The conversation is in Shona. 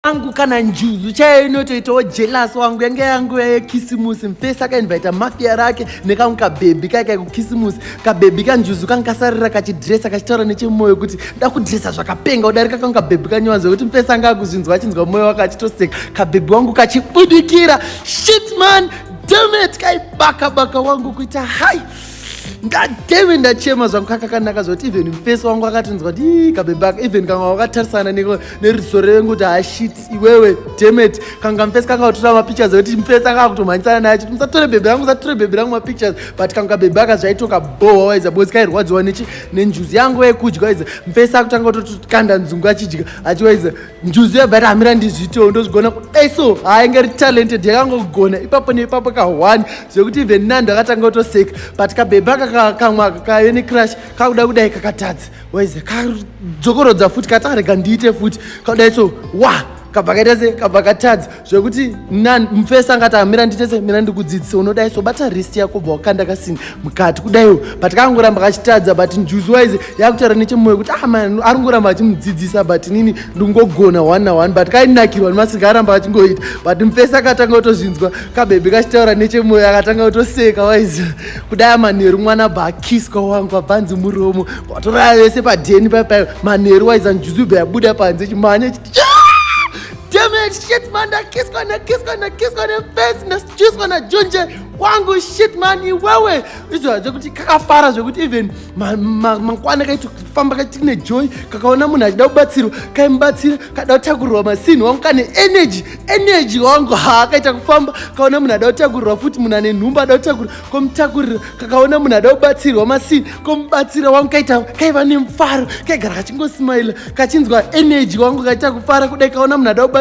angu kana njuzu chaiyo inotoitawo jelas wangu yange yanguya yekisimusi mfesi akainvaita mafia rake nekamwe kabhebhi kaye kai kukisimusi kabhebhi kanjuzu kange kasarira kachidresa kachitaura nechemwoyo kuti da kudresa zvakapenga udarika kange kabhebhi kanyewanzwa kuti mfesi anga akuzvinzwa achinzwa mwoyo wake achitoseka kabhebhi wangu kachibudikira shitman demet kaibaka baka wangu kuita hai ngateve ndachema zvangu kakakanaka zvoti even mufesi wangu akatinzwa ti kabebaka even kanga wakatarisana neriso revengu kuti hashit ah, iwewe demet kanga mufesi kakautora mapictures ekuti mufesi akakutomhanyisana naye chiti musatore bebe rangu musatore bebe rangu mapictures but kanga kabebaka zvaitoka bohwa waiza bozi kairwadziwa nenjuzi yangu yekudya waiza mufesi akutanga kutotokanda nzungu achidya achiwaiza njuzu yabva yati hamira ndizviitewo ndozvigona kudai so haainge ri talented yakangogona ipapo neipapo kahwani zvekuti even nando akatanga kutoseka but kabhebha kakamwa kave necrush kakuda kudai kakatadza waize kadzokorodza futi katarega ndiite futi kadai so wa kabva kaita se kabva katadza zvekuti nan mfesi angati amira nditese mira ndikudzidzise unodai so bata rist yako bva wakanda kasini mukati kudaiwo but kangoramba kachitadza but njuziwise yakutaura nechemoyo kuti ah man ari ngoramba achimudzidzisa but nini ndingogona one na one but kainakirwa nemasinga aramba achingoita but mfesi akatanga kutozvinzwa kabebe kachitaura nechemoyo akatanga kutoseka wise kudai manheru mwana bva akiswa wangu abvanzi muromo vatoraya vese padheni paipaio manheru wise anjuzi bva yabuda panze chimhanya chiti Damn it, shit man, ndakiswa ndakiswa ndakiswa nefesi ndasichuswa najonje wangu shit man iwewe izvora zvekuti kakafara zvekuti even mangwana kaito kufamba kaitiki nejoy kakaona munhu achida kubatsirwa kaimubatsira kada kutakurirwa masini wangu kane energy energy wangu ha kaita kufamba kaona munhu ada kutakurirwa futi munhu ane nhumba ada kutakurirwa ko mutakuriro kakaona munhu ada kubatsirwa masini ko mubatsira wangu kaita kaiva nemufaro kaigara kachingosimaila kachinzwa eneji wangu kaita kufara kudai kaona munhu ada kubatsira